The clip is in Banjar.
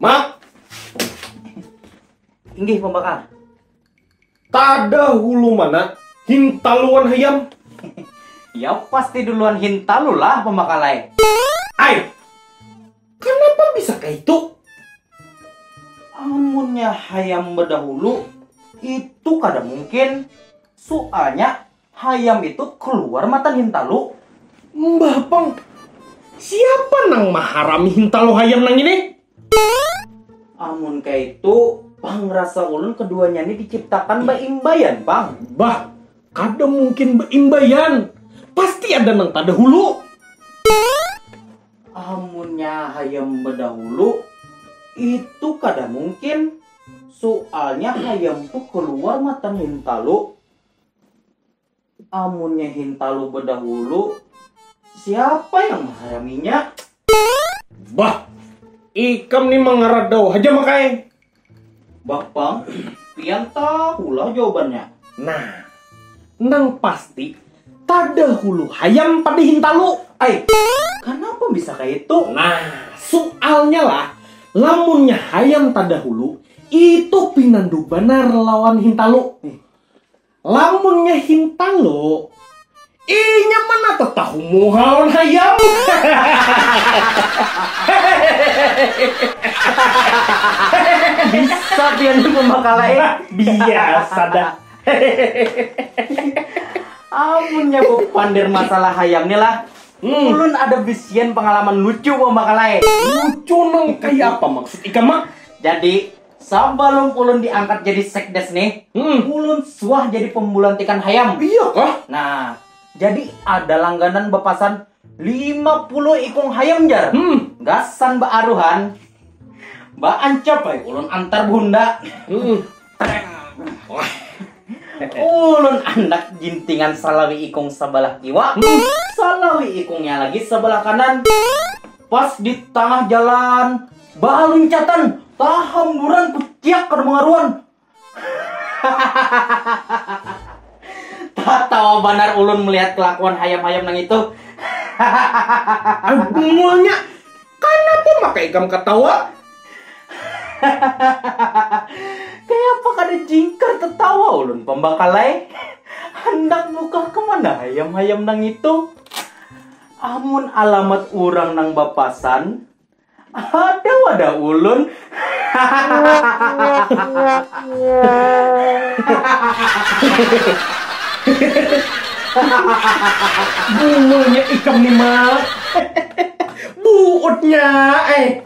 Mak. Inggih pembakar. Tada hulu mana hintaluan hayam. ya pasti duluan hintalu lah pembakalai. Ai. Kenapa bisa kayak itu? Amunnya hayam berdahulu itu kada mungkin. Soalnya Hayam itu kluar matan hintalu. Mbah pang, siapa nang maharami hintalu hayam nang ini? Amun kaitu, pang rasa ulun keduanya ni diciptakan baimbaian pang. Bah, kada mungkin baimbaian, pasti ada nang tadahulu. Amunnya hayam badahulu, itu kada mungkin, sualnya hayam tu kluar matan hintalu. Amunnya hintalu bedahulu, siapa yang menghayaminya? Bah, ikam ni mengeradau haja makai. Bapang, pian tahulah jawabannya. Nah, nang pasti tadahulu hayam pada hintalu. Ai, kenapa bisa kayak itu? Nah, soalnya lah, lamunnya hayam tadahulu, itu pinandu banar lawan hintalu. Lamunnya hintalu, inya mana tetahu muha lawan hayam. Bisa pian ni pemakala eh. Biasa dah. Amunnya bepander masalah hayam ni lah, hmm. ulun ada bisian pengalaman lucu pemakala eh. Lucu nang kaya apa maksud ikam mak? Jadi Sabalum ulun diangkat jadi sekdes nih, hmm. ulun suah jadi pembulantikan hayam. Iya kah? Nah, jadi ada langganan bepasan 50 ikung hayam jar. Hmm. Gasan baaruhan. Baancap ay, ulun antar bunda. Hmm. ulun anak jintingan salawi ikung sebelah kiwa, hmm. salawi ikungnya lagi sebelah kanan. Pas di tangah jalan, baluncatan, tahamburan kuciak kada mengaruan. Tatawa banar ulun melihat kelakuan hayam-hayam nang itu. Bungulnya, kanapa maka ikam katawa? Kayapa kada jingkar tetawa ulun pambakalai. Handak bukah kemana hayam-hayam nang itu? Amun alamat urang nang bapasan, ada wada ulun. Bungulnya ikam ni Mak. Buutnya eh.